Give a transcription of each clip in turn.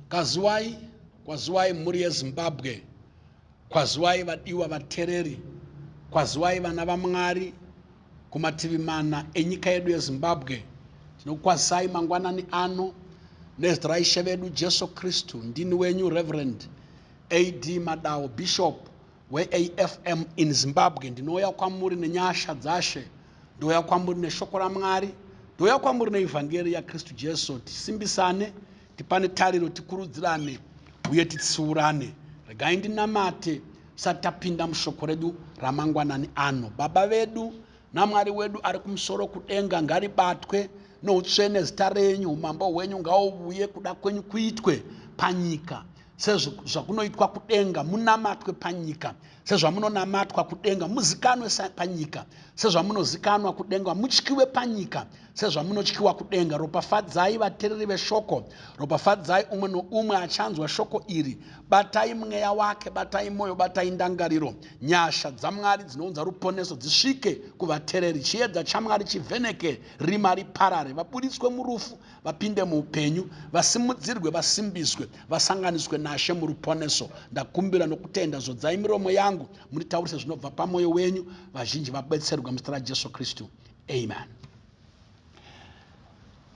kwaziwai kwaziwai mhuri yezimbabwe kwaziwai vadiwa vatereri kwaziwai vana vamwari kumativi mana enyika yedu yezimbabwe tinokwazisai mangwanani ano nezita raishe vedu jesu kristu ndini wenyu reverend ad madao bishop weAFM in Zimbabwe ndinouya kwamuri nenyasha dzaShe, ndouya kwamuri neshoko raMwari, ndouya kwamuri neEvhangeri yaKristu Jesu, tisimbisane, tipane tariro, tikurudzirane uye titsiurane. Regai ndinamate tisati tapinda mushoko redu ramangwanani ano. Baba vedu naMwari wedu ari kumusoro kudenga, ngaribatwe noutsvene zita renyu, umambo hwenyu ngauvuye, kuda kwenyu kuitwe panyika sezvakunoitwa kudenga munamatwe panyika sezvamunonamatwa kudenga muzikanwe panyika sezvamunozikanwa kudenga mutyiwe panyika sezvamunotyiwa kudenga ropafadzai vatereri veshoko ropafadzai umwe noumwe achanzwa shoko iri batai mweya wake batai mwoyo batai ndangariro nyasha dzamwari dzinounza ruponeso dzisvike kuvatereri chiedza chamwari chivheneke rima riparare vabuditswe murufu vapinde muupenyu, vasimudzirwe, vasimbiswe, vasanganiswe naShe muruponeso. Ndakumbira nokutenda, zodzai miromo yangu, munditaurise zvinobva pamoyo wenyu, vazhinji vabetserwe muzita raJesu Kristu. Amen.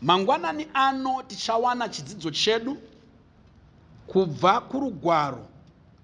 Mangwanani ano tichawana chidzidzo chedu kubva kurugwaro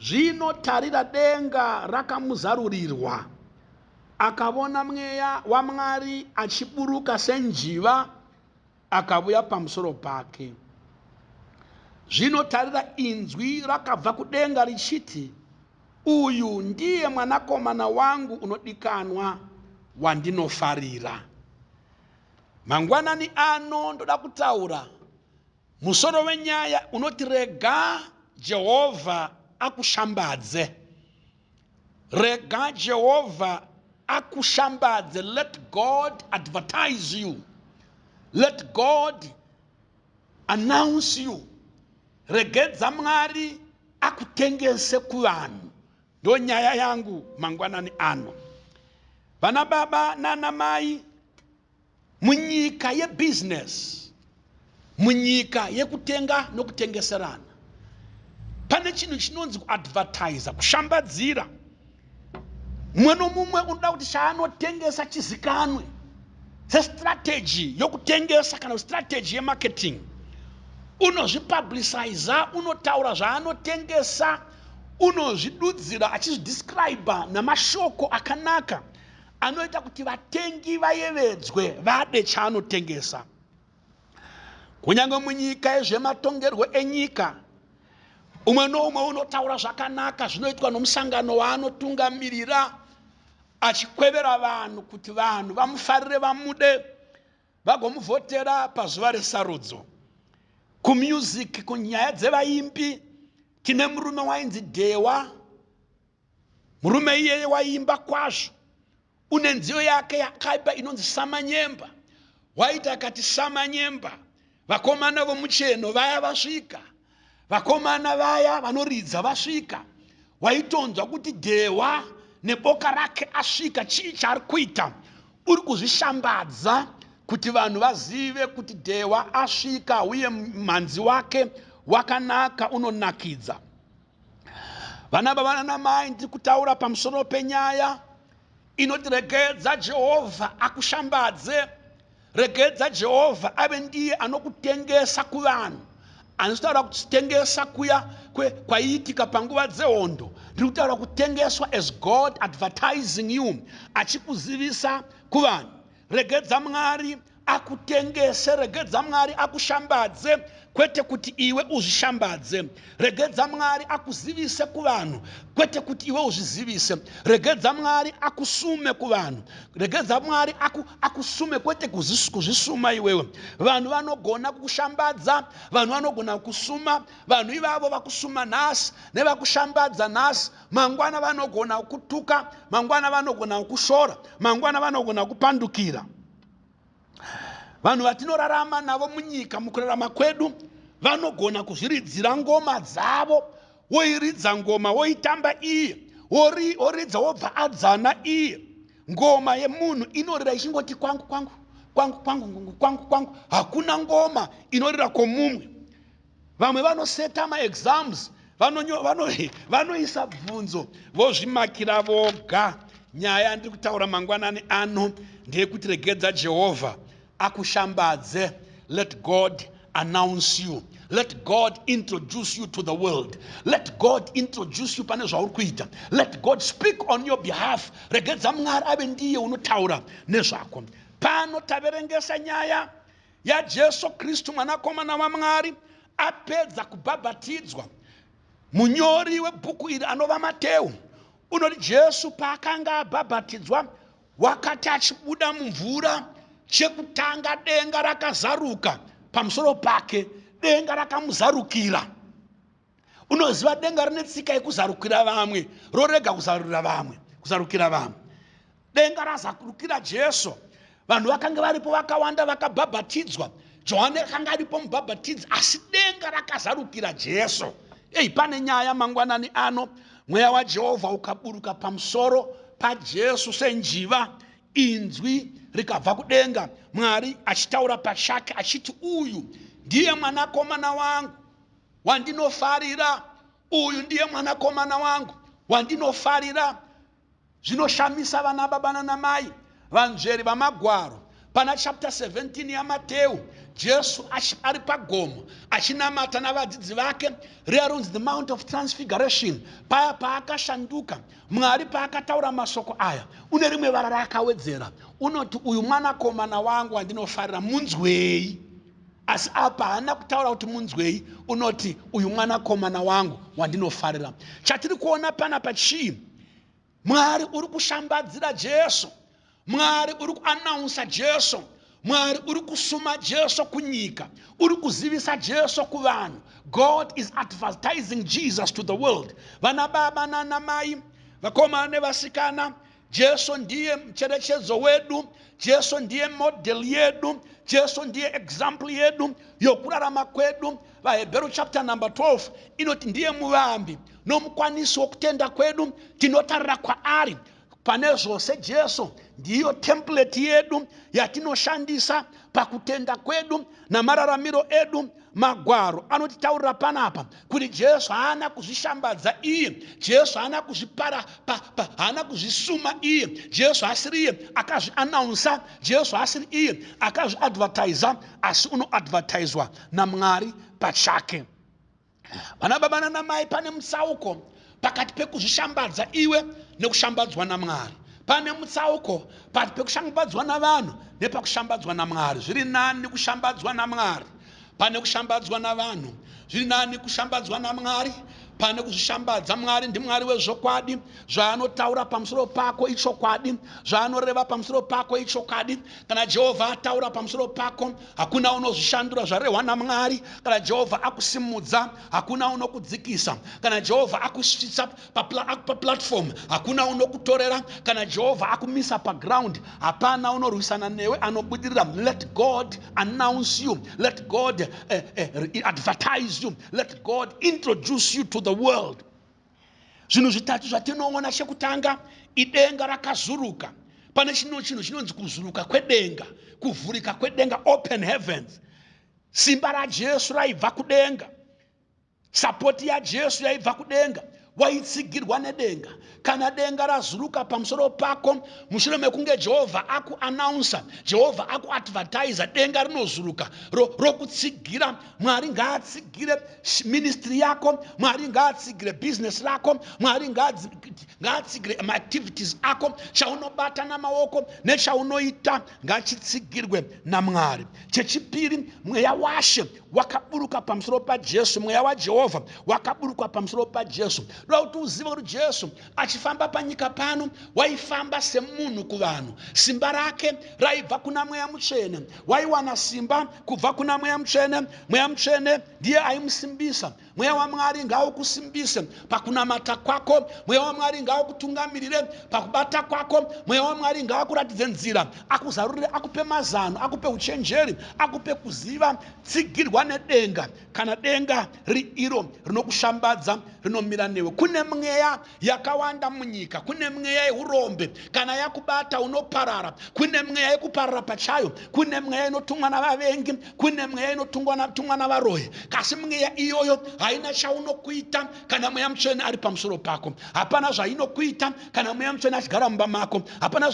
Zvino tarira, denga rakamuzarurirwa, akavona Mweya waMwari achiburuka senjiva, akavuya pamusoro pake. Zvino tarira, inzwi rakabva kudenga richiti, Uyu ndiye Mwanakomana wangu unodikanwa, wandinofarira. Mangwanani ano ndoda kutaura Musoro wenyaya unoti Rega Jehovha Akushambadze. Rega Jehovha Akushambadze, Let God Advertise You, Let God Announce You, Regedza Mwari Akutengese Kuvanhu, ndonyaya yangu mangwanani ano. Vana baba nana mai, Munyika yebhizinesi, munyika yekutenga nokutengeserana, pane chinhu chinonzi kuadvertiser, kushambadzira. Mumwe nomumwe unoda kuti chaanotengesa chizikanwe sestrategy yokutengesa kana strategy yemarketing. Unozvipublicizer, unotaura zvaanotengesa, unozvidudzira achizvidescriber namashoko akanaka anoita kuti vatengi vayevedzwe vade chaanotengesa. Kunyange munyika yezvematongerwo enyika, umwe noumwe unotaura zvakanaka zvinoitwa nomusangano waanotungamirira achikwevera vanhu kuti vanhu vamufarire vamude vagomuvhotera pazuva resarudzo kumusic kunyaya dzevaimbi tine murume wainzi dhewa Murume iyeye waiimba kwazvo. Une nziyo yake yakaipa inonzi Samanyemba. Waiti akati Samanyemba, vakomana vomucheno vaya vasvika. Vakomana vaya vanoridza vasvika. Waitonzwa kuti Dhewa neboka rake asvika. Chii chaari kuita? Uri kuzvishambadza kuti vanhu vazive kuti Dhewa asvika uye mhanzi wake wakanaka unonakidza. Vana baba nana mai ndiri kutaura pamusoro penyaya inoti regedza Jehovha akushambadze. Regedza Jehovha ave ndiye anokutengesa kuvanhu. Handisi kutaura kutengesa kuya kwaiitika panguva dzehondo. Ndiri kutaura kutengeswa as God advertising you, achikuzivisa kuvanhu. Regedza Mwari akutengese, regedza Mwari akushambadze, kwete kuti iwe uzvishambadze. Regedza Mwari akuzivise kuvanhu, kwete kuti iwe uzvizivise. Regedza Mwari akusume kuvanhu, regedza Mwari aku, akusume, kwete kuzis- kuzvisuma iwewe. Vanhu vanogona kukushambadza, vanhu vanogona kukusuma, vanhu ivavo vakusuma nhasi nevakushambadza nhasi, Mangwana vanogona kukutuka, mangwana vanogona kukushora, mangwana vanogona kupandukira. Vanhu vatinorarama navo munyika mukurarama kwedu vanogona kuzviridzira ngoma dzavo, woiridza ngoma woitamba iye, wori- woridza wobva adzana iye. Ngoma yemunhu inorira ichingoti kwangu kwangu kwangu kwangu kwangu kwangu kwangu, hakuna ngoma inorira kwomumwe. Vamwe vanoseta ma exams vanonyo vano vanoisa bvunzo vozvimakira voga. Nyaya yandiri kutaura mangwanani ano ndeyekuti regedza Jehovha akushambadze. Let God announce you. Let God introduce you to the world. Let God introduce you pane zvauri kuita. Let God speak on your behalf. Regedza Mwari ave ndiye unotaura nezvako. Pano taverengesa nyaya yaJesu Kristu Mwanakomana waMwari apedza kubhabhatidzwa. Munyori webhuku iri anova Mateu unoti Jesu paakanga abhabhatidzwa wakati achibuda mumvura chekutanga denga rakazaruka pamusoro pake, denga rakamuzarukira. Unoziva denga rine tsika yekuzarukira vamwe rorega kuzarurira vamwe kuzarukira vamwe. Denga razarukira Jesu. Vanhu vakange varipo vakawanda vakabhabhatidzwa. Johane akanga aripo mubhabhatidzi asi denga rakazarukira Jesu. Ei pane nyaya mangwanani ano mweya waJehovha ukaburuka pamusoro paJesu senjiva inzwi rikabva kudenga Mwari achitaura pachake achiti uyu ndiye mwanakomana wangu wandinofarira, uyu ndiye mwanakomana wangu wandinofarira. Zvinoshamisa vanababa nanamai vanzveri vaMagwaro. Pana chapter 17 yaMateu, Jesu ari pagomo achinamata navadzidzi vake, riya rinonzi the Mount of Transfiguration, paya paakashanduka, Mwari paakataura masoko aya, une rimwe vara raakawedzera, unoti, Uyu mwanakomana wangu wandinofarira, munzwei. Asi apa haana kutaura kuti munzwei, unoti uyu mwanakomana wangu wandinofarira. Chatiri kuona panapa chii? Mwari uri kushambadzira Jesu. Mwari uri kuanaunsa Jesu. Mwari uri kusuma Jesu kunyika. Uri kuzivisa Jesu kuvanhu. God is advertising Jesus to the world. Vana baba nana mai, vakomana nevasikana, Jesu ndiye mucherechedzo wedu, Jesu ndiye model yedu, Jesu ndiye example yedu yokurarama kwedu. VaHebheru chapter number 12 inoti ndiye muvambi nomukwanisi wokutenda kwedu, tinotarira kwaari pane zvose. Jesu ndiyo template yedu yatinoshandisa pakutenda kwedu namararamiro edu. Magwaro anotitaurira panapa kuti Jesu haana kuzvishambadza iye. Jesu haana kuzvipara, pa, pa, haana kuzvisuma iye. Jesu haasiri iye akazvianaunsa. Jesu haasiri iye akazviadvertiser, asi unoadvertiswa naMwari pachake. Vanababa nanamai, pane mutsauko pakati pekuzvishambadza iwe nekushambadzwa naMwari. Pane mutsauko pakati pekushambadzwa navanhu nepakushambadzwa naMwari. Zviri nani kushambadzwa naMwari pane kushambadzwa navanhu. Zviri nani kushambadzwa naMwari pane kuzvishambadza. Mwari ndiMwari wezvokwadi. Zvaanotaura pamusoro pako ichokwadi. Zvaanoreva pamusoro pako ichokwadi. Kana Jehovha ataura pamusoro pako, hakuna unozvishandura. Zvarehwa naMwari, kana Jehovha akusimudza, Hakuna unokudzikisa kana Jehovha akusvitsa paplatform. Hakuna unokutorera kana Jehovha akumisa paground. Hapana unorwisana newe anobudirira. Let God announce you. Let God eh, eh, advertise you. Let God introduce you to the world. Zvinhu zvitatu zvatinoona, chekutanga idenga rakazuruka. Pane chino chinhu chinonzi kuzuruka kwedenga, kuvhurika kwedenga, open heavens. Simba raJesu raibva kudenga. Sapoti yaJesu yaibva kudenga. Waitsigirwa nedenga. Kana denga razuruka pamusoro pako, mushure mekunge Jehovha akuanaunsa, Jehovha akuadvertiza, denga rinozuruka ro, rokutsigira. Mwari ngaatsigire ministry yako, Mwari ngaatsigire business rako, Mwari ngaatsigire maactivities ako, chaunobatana maoko nechaunoita. ngachitsigirwe naMwari. Chechipiri, mweya waShe wakaburuka pamusoro paJesu, mweya waJehovha wakaburuka pamusoro paJesu. Ndoda kuti uzive kuti Jesu achifamba panyika pano waifamba semunhu kuvanhu. Simba rake raibva kuna mweya mutsvene, waiwana simba kubva kuna mweya mutsvene. Mweya mutsvene ndiye aimusimbisa. Mweya waMwari ngaukusimbise pakunamata kwako. Mweya waMwari ngaukutungamirire pakubata kwako. Mweya waMwari ngaakuratidze nzira, akuzarurire, akupe mazano, akupe uchenjeri, akupe kuziva. Tsigirwa nedenga, kana denga riri iro rinokushambadza, rinomira newe. Kune mweya yakawanda munyika kune mweya yeurombe kana yakubata unoparara kune mweya yekuparara pachayo kune mweya inotumwa navavengi kune mweya inotumwa navaroyi kasi mweya iyoyo haina chaunokuita kana mweya mutsvene ari pamusoro pako hapana zvainokuita kana mweya mutsvene achigara mumba mako hapana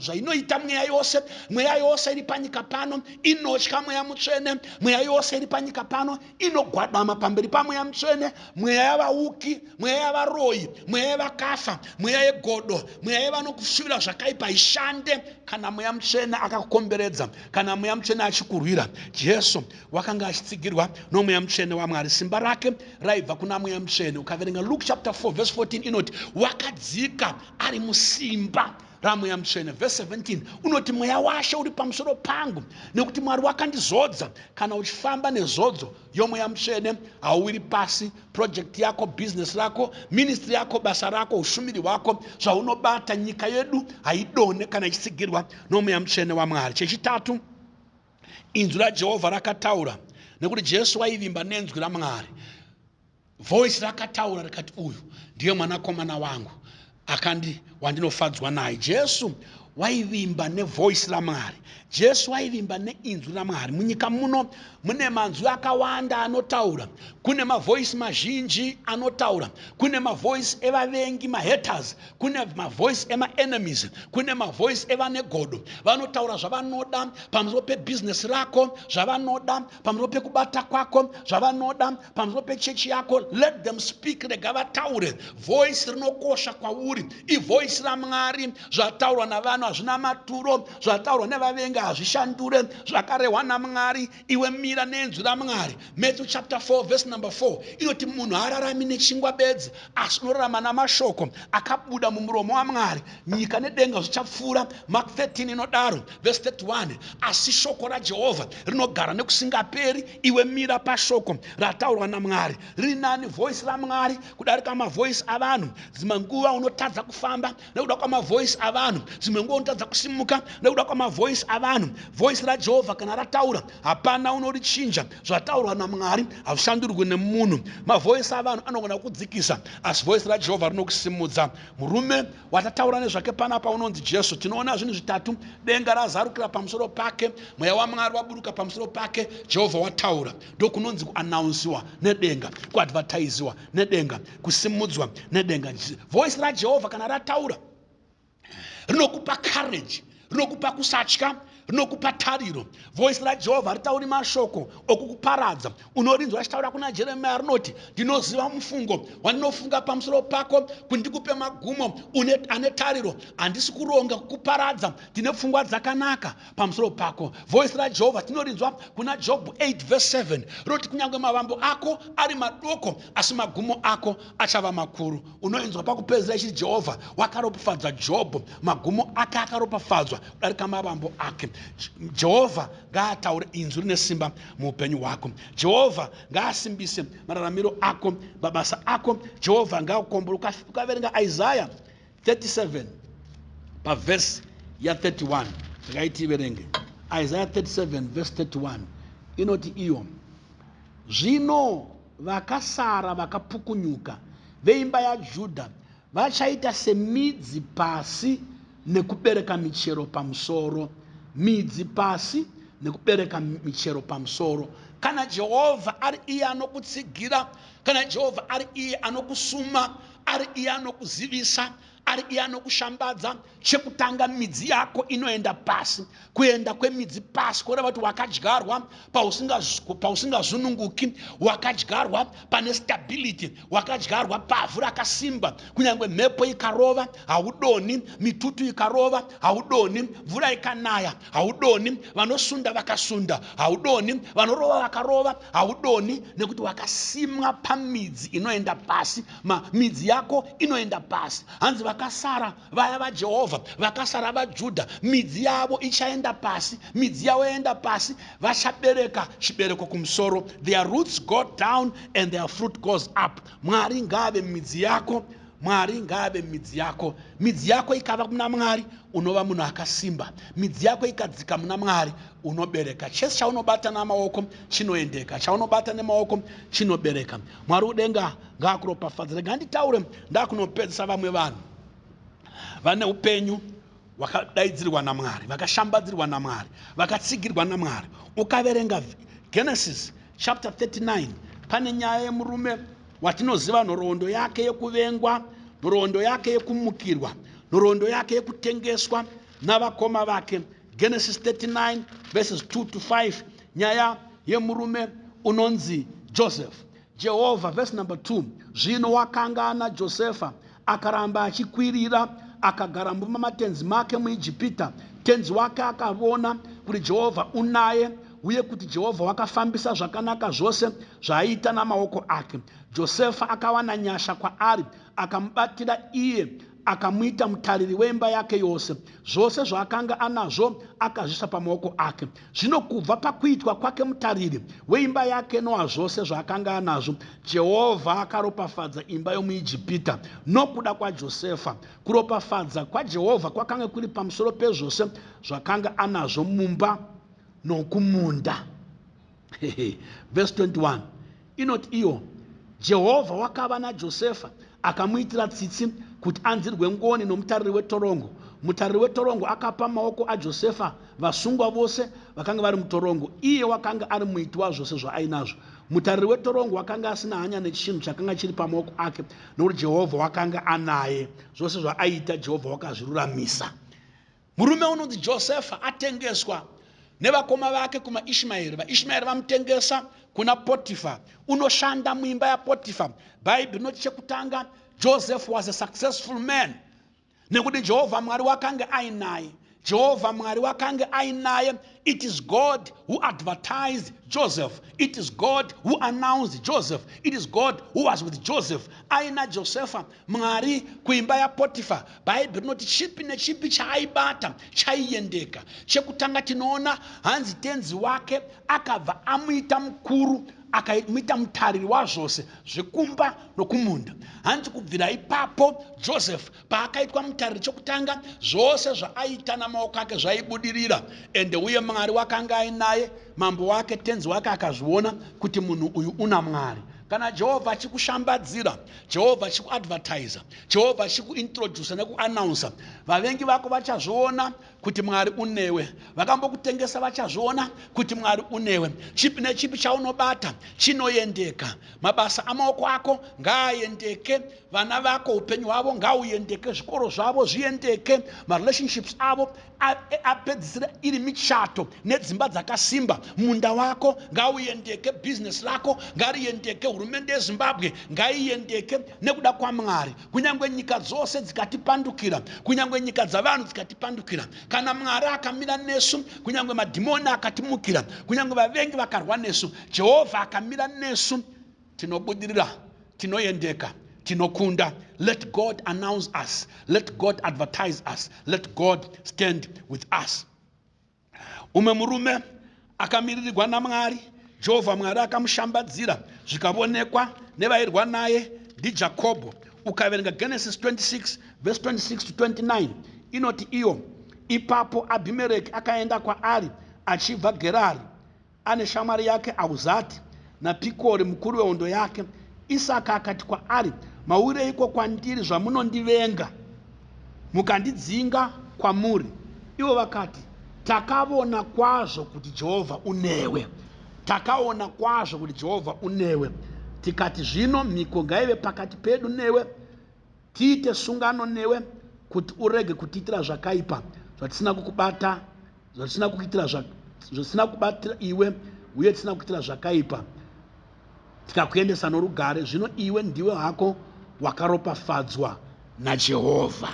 zvainoita mweya yose mweya yose iri panyika pano inotya mweya mutsvene mweya yose iri panyika pano inogwadama pamberi pamweya mutsvene mweya yavauki mweya yavaroyi mweya yevakafa mweya yegodo mweya yevanokushuvira zvakaipa ishande kana mweya mutsvene akakukomberedza kana mweya mutsvene achikurwira jesu wakanga achitsigirwa nomweya mutsvene wamwari simba rake raibva kuna mweya mutsvene ukaverenga luke chapter 4 verse 14 inoti wakadzika ari musimba ra Mweya Mutsvene, verse 17, unoti, Mweya waShe uri pamusoro pangu, nekuti Mwari wakandizodza. Kana uchifamba nezodzo yoMweya Mutsvene, hauwiri pasi. Project yako, business rako, ministry yako, basa rako, ushumiri hwako, zvaunobata, nyika yedu haidonhe kana ichitsigirwa noMweya Mutsvene waMwari. Chechitatu, inzwi raJehovha rakataura, nekuti Jesu waivimba nenzwi raMwari. Voice rakataura rikati, Uyu ndiye Mwanakomana wangu akandi, wandinofadzwa naye. Jesu waivimba neVoice raMwari. Jesu waivimba neInzwi raMwari. Munyika muno mune manzwi akawanda anotaura. Kune maVoice mazhinji anotaura. Kune maVoice evavengi, maHaters. Kune maVoice emaEnemies. Kune maVoice evane godo. Vanotaura zvavanoda pamusoro peBusiness rako, zvavanoda pamusoro pekubata kwako, zvavanoda pamusoro pechechi yako let them speak rega vataure voice rinokosha kwauri ivoice ramwari zvataurwa navanhu hazvina maturo zvataurwa nevavengi hazvishandure zvakarehwa namwari iwe mira nenzwi ramwari matthew chapter 4 verse number 4 inoti munhu haararami nechingwa bedzi asi unorarama namashoko akabuda mumuromo wamwari nyika nedenga zvichapfuura mark 13 inodaro verse 31 asi shoko rajehovha rinogara nekusingaperi Iwe mira pashoko rataurwa naMwari. Riri nani voice raMwari kudarika mavoice avanhu. Dzimwe nguva unotadza kufamba nekuda kwamavoice avanhu. Dzimwe nguva unotadza kusimuka nekuda kwamavoice avanhu. Voice raJehovha kana rataura hapana unorichinja. Zvataurwa naMwari hazvishandurwi nemunhu. Mavoice avanhu anogona kukudzikisa asi voice raJehovha rinokusimudza. Murume Watataura nezvake panapa unonzi Jesu. Tinoona zvinhu zvitatu, denga razarukira pamusoro pake, mweya waMwari waburuka pamusoro pake, Jehovha wataura. Ndokunonzi kuanaunsiwa nedenga, kuadvertiziwa nedenga, kusimudzwa nedenga. Voice raJehovha kana rataura rinokupa courage. Rinokupa kusatya, rinokupa tariro. Voice raJehovha haritauri mashoko okukuparadza. Unorinzwa richitaura kuna Jeremiya rinoti, Ndinoziva mufungo wandinofunga pamusoro pako, kuti ndikupe magumo une, ane tariro. Handisi kuronga kukuparadza, ndine pfungwa dzakanaka pamusoro pako. Voice raJehovha tinorinzwa kuna Jobho 8 verse 7 rinoti, Kunyange mavambo ako ari madoko, asi magumo ako achava makuru. unoinzwa pakupedzisira ichiti jehovha wakaropafadza jobho magumo ake akaropafadzwa kudarika mavambo ake jehovha ngaataure inzwi rine simba muupenyu hwako jehovha ngaasimbise mararamiro ako mabasa ako jehovha ngaakukombora ukaverenga isaya 37 pavhesi ya31 ndakaiti iverenge isaya 37 vhesi 31 inoti iyo zvino vakasara vakapukunyuka, veimba yaJudha, vachaita semidzi pasi nekubereka michero pamusoro, midzi pasi nekubereka michero pamusoro. Kana Jehovha ari iye anokutsigira, kana Jehovha ari iye anokusuma, ari iye anokuzivisa, ari iye anokushambadza chekutanga midzi yako inoenda pasi kuenda kwemidzi pasi kureva kuti wakadyarwa pausingazununguki wakadyarwa pane stability wakadyarwa pavhu rakasimba kunyange mhepo ikarova haudoni mitutu ikarova haudoni mvura ikanaya haudoni vanosunda vakasunda haudoni vanorova vakarova haudoni nekuti wakasimwa pamidzi inoenda pasi Ma, midzi yako inoenda pasi. Hanzi vakasara, vaya vaJehovha, vakasara vaJudha, midzi yavo ichaenda pasi. Midzi yavo yaenda pasi, vachabereka chibereko kumusoro. Their roots go down and their fruit goes up. Mwari ngaave midzi yako. Mwari ngaave midzi yako. Midzi yako ikava muna Mwari, unova munhu akasimba. Midzi yako ikadzika muna Mwari, unobereka. Chese chaunobata namaoko chinoendeka. Chaunobata nemaoko chinobereka. mwari udenga ngaakuropafadze rega nditaure ndakunopedzisa vamwe vanhu vane upenyu vakadaidzirwa namwari vakashambadzirwa namwari vakatsigirwa namwari ukaverenga genesis chapter 39 pane nyaya yemurume watinoziva nhoroondo yake yekuvengwa nhoroondo yake yekumukirwa nhoroondo yake yekutengeswa navakoma vake. Genesis 39 verses 2 to 5 nyaya yemurume unonzi Joseph. Jehovha verse number 2 zvino wakanga ana Josefa akaramba achikwirira akagara mumba matenzi make muIjipita. Tenzi wake akavona kuti Jehovha unaye uye kuti Jehovha wakafambisa zvakanaka zvose zvaaiita namaoko ake. Josefa akawana nyasha kwaari akamubatira iye Akamuita mutariri wemba yake yose, zvose zvaakanga anazvo akazviisa pamaoko ake. Zvino kubva pakuitwa kwake mutariri weimba yake noa zvose zvaakanga anazvo, Jehovha akaropafadza imba yomuIjipita nokuda kwaJosefa. Kuropafadza kwaJehovha kwakanga kuri pamusoro pezvose zvakanga anazvo mumba nokumunda. Vhesi 21 inoti, Iwo, Jehovha, wakava naJosefa, akamuitira tsitsi kuti anzirwe ngoni nomutariri wetorongo. Mutariri wetorongo akapa mumaoko aJosefa vasungwa vose vakanga vari mutorongo. Iye wakanga ari muiti wazvose zvaainazvo. Mutariri wetorongo wakanga asina hanya nechinhu chakanga chiri pamaoko ake, nokuti Jehovha wakanga anaye. Zvose zvaaiita, Jehovha wakazviruramisa. Murume unonzi Josefa atengeswa nevakoma vake kumaIshmaeri. VaIshmaeri vamutengesa kuna Potifa, unoshanda muimba yaPotifa. Bhaibheri rinoti chekutanga, Joseph was a successful man nekuti Jehovha Mwari wakange ainaye. Jehovha Mwari wakange ainaye. It is God who advertised Joseph. It is God who announced Joseph. It is God who was with Joseph. Aina Josefa Mwari kuimba yaPotifa, Bhaibheri rinoti chipi nechipi chaaibata chaiendeka. Chekutanga tinoona hanzi tenzi wake akabva amuita mukuru, akamuita mutariri wazvose zvekumba nokumunda. Hanzi kubvira ipapo Joseph paakaitwa mutariri chokutanga, zvose zvaaita namaoko ake zvaibudirira. Ende uye Mwari wakanga ainaye, mambo wake, tenzi wake akazviona kuti munhu uyu unaMwari. Kana Jehovha achikushambadzira, Jehovha achikuadvertiser, Jehovha achikuintroducer nekuannouncer. Vavengi vako vachazviona kuti Mwari unewe. Vakambokutengesa vachazviona kuti Mwari unewe. Chipi nechipi chaunobata chinoendeka. Mabasa amaoko ako ngaaendeke. Vana vako upenyu hwavo ngauendeke. Zvikoro zvavo zviendeke. Marelationships avo apedzisira iri michato nedzimba dzakasimba munda wako ngauyendeke business rako ngariyendeke hurumende yezimbabwe ngaiyendeke nekuda kwamwari kunyangwe nyika dzose dzikatipandukira kunyangwe nyika dzavanhu dzikatipandukira kana mwari akamira nesu kunyangwe madhimoni akatimukira kunyangwe vavengi vakarwa nesu jehovha akamira nesu Tinobudirira, tinoyendeka, tinokunda, let God announce us, let God advertise us, let God stand with us. Umwe murume akamiririgwa naMwari, Jehovha Mwari akamushambadzira zvikavonekwa nevairwa naye ndiJakobho. Ukaverenga Genesis 26 verse 26 to 29 inoti iyo, ipapo Abhimereki akaenda kwaari achibva Gerari. Ane shamwari yake Ahuzati naPikori, mukuru wehondo yake. Isaka akati kwaari, Mauyireiko kwandiri zvamunondivenga, mukandidzinga kwamuri? Ivo vakati, Takavona kwazvo kuti Jehovha unewe. Takavona kwazvo kuti Jehovha unewe, tikati, Zvino mhiko ngaive pakati pedu newe, tiite sungano newe, kuti urege kutiitira zvakaipa, zvatisina kukubata zvatisina kukuitira zvatisina kubatira iwe uye tisina kukuitira zvakaipa tikakuendesa norugare zvino iwe ndiwe hako wakaropafadzwa najehovha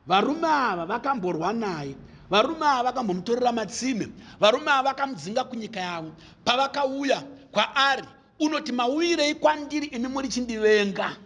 varume ava vakamborwa naye varume ava vakambomutorera matsime varume ava vakamudzinga kunyika yavo pavakauya kwaari unoti mauvirei kwandiri imi muri chindivenga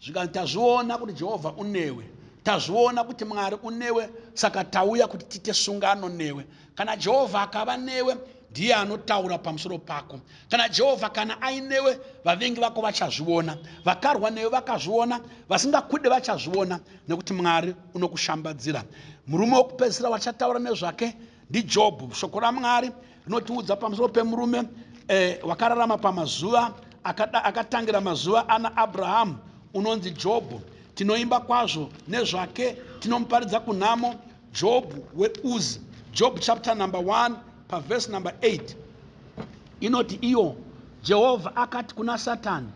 Zvikanzi, Tazviona kuti Jehovha unewe. Tazviona kuti Mwari unewe, saka tauya kuti tiite sungano newe. Kana Jehovha akava newe, ndiye anotaura pamusoro pako. Kana Jehovha kana ainewe, vavengi vako vachazviona. Vakarwa newe vakazviona, vasingakude vachazviona, nekuti Mwari unokushambadzira. Murume wokupedzisira watichataura nezvake ndiJobhu. Shoko raMwari Rinotiudza pamusoro pemurume eh, wakararama pamazuva akada, akatangira mazuva ana Abrahamu unonzi Jobho. Tinoimba kwazvo nezvake, tinomuparidza kunhamo Jobhu weUzi. Job chapter number 1 paverse number 8 inoti iyo Jehovha akati kuna Satani,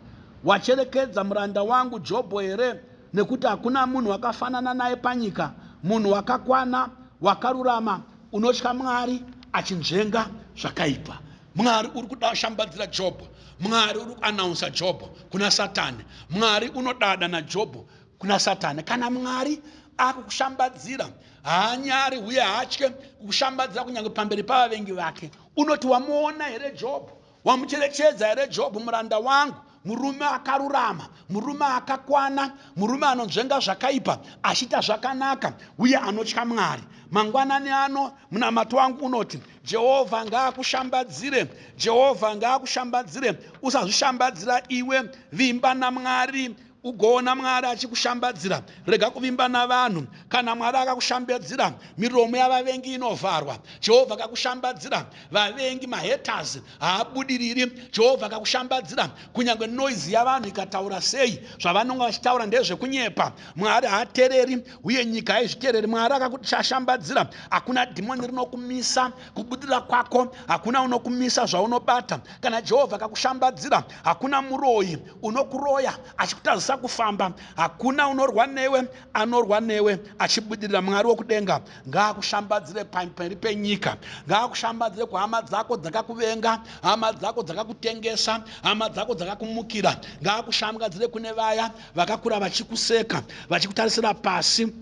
wacherekedza muranda wangu Jobho here? Nekuti hakuna munhu wakafanana naye panyika, munhu wakakwana, wakarurama, Unotya Mwari achinzvenga zvakaipa. Mwari uri kushambadzira Jobho. Mwari uri kuanaunsa Jobho kuna Satani. Mwari unodada naJobho kuna Satani. Kana Mwari akukushambadzira, haanyari uye haatye kukushambadzira kunyange pamberi pavavengi vake. Unoti, Wamuona here Jobho? Wamucherechedza here Jobhu muranda wangu, murume akarurama, murume akakwana, murume anonzvenga zvakaipa achiita zvakanaka uye anotya Mwari? Mangwanani ano munamato wangu unoti, Jehovha ngaakushambadzire, Jehovha ngaakushambadzire. Usazvishambadzira iwe, vimba naMwari Ugoona Mwari achikushambadzira. Rega kuvimba navanhu. Kana Mwari akakushambadzira, miromo yavavengi inovharwa. Jehovha akakushambadzira, vavengi, mahaters, haabudiriri. Jehovha akakushambadzira, kunyange noise yavanhu ikataura sei, zvavanonga vachitaura ndezvekunyepa. Mwari haatereri, uye nyika haizvitereri. Mwari akakushambadzira, hakuna dhimoni rinokumisa kubudirira kwako, hakuna unokumisa zvaunobata. Kana Jehovha akakushambadzira, hakuna muroyi Unokuroya achikutadzisa kufamba hakuna unorwa newe anorwa newe achibudirira Mwari wekudenga ngaakushambadzire pamberi penyika ngaakushambadzire kuhama dzako dzakakuvenga hama dzako dzakakutengesa hama dzako dzakakumukira ngaakushambgadzire kune vaya vakakura vachikuseka vachikutarisira pasi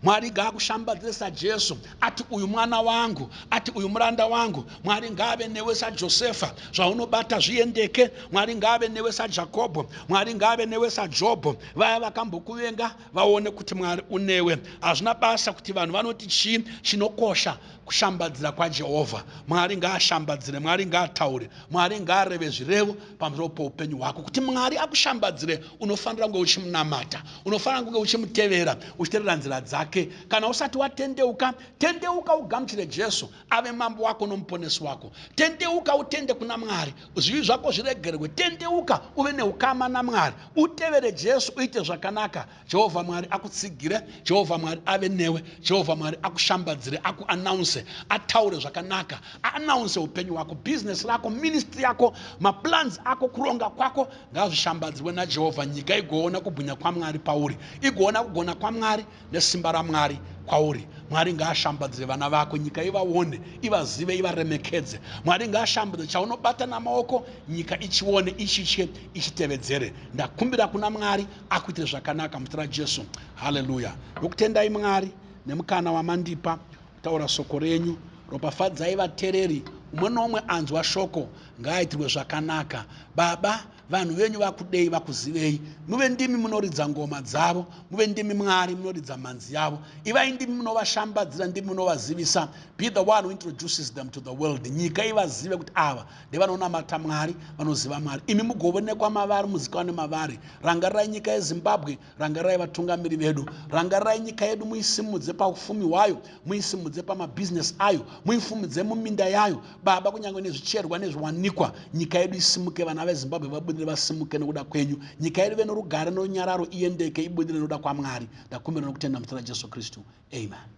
Mwari ngaakushambadzire saJesu ati uyu mwana wangu, ati uyu muranda wangu. Mwari ngaave newe saJosefa, zvaunobata zviendeke. Mwari ngaave newe saJakobho, Mwari ngaave newe saJobho. Vaya vakambokuvenga vaone kuti Mwari unewe. Hazvina basa kuti vanhu vanoti chii, chinokosha kushambadzira kwaJehovha. Mwari ngaashambadzire, Mwari ngaataure, Mwari ngaareve zvirevo. pamusoro poupenyu hwako kuti mwari akushambadzire unofanira kunge uchimunamata unofanira kunge uchimutevera uchiterera nzira dzake kana usati watendeuka tendeuka ugamuchire jesu ave mambo wako nomuponesi wako tendeuka utende kuna mwari zvivi zvako zviregerwe tendeuka uve neukama namwari utevere jesu uite zvakanaka Jehovha Mwari akutsigire, Jehovha Mwari ave newe, Jehovha Mwari akushambadzire, aku announce, ataure zvakanaka, a announce hupenyu hwako, business rako, ministry yako, ma plans ako, kuronga kwako ngazvishambadzirwe naJehovha, nyika igoona kubwinya kwaMwari pauri, igoona kugona kwaMwari nesimba raMwari kwauri. Mwari ngaashambadzire vana vako, nyika ivaone, ivazive, ivaremekedze. Mwari ngaashambadze chaunobata namaoko, nyika ichione, ichitye, ichitevedzere. Ndakumbira kuna Mwari Akuitire zvakanaka muzita raJesu. Hallelujah. Ndokutendai Mwari nemukana wamandipa kutaura soko renyu. Ropafadzai vatereri umwe noumwe anzwa shoko ngaaitirwe zvakanaka. Baba vanhu venyu vakudei vakuzivei. Muve ndimi munoridza ngoma dzavo. Muve ndimi Mwari munoridza mhanzi yavo. Ivai ndimi munovashambadzira ndimi munovazivisa. Be the one who introduces them to the world. Nyika ivazive kuti ava ndevanonamata Mwari vanoziva Mwari imi mugovonekwa mavari muzikanwe mavari rangarirai nyika yeZimbabwe rangarirai vatungamiri vedu rangarirai nyika yedu muisimudze paufumi hwayo muisimudze pamabusiness ayo muifumidze muminda yayo baba kunyange nezvicherwa nezviwanikwa nyika yedu isimuke vana veZimbabwe vabudire vasimuke nokuda kwenyu nyika yedu ive norugare norunyararo iyendeke ibudire nokuda kwaMwari ndakumbira nokutenda muzita raJesu Kristu amen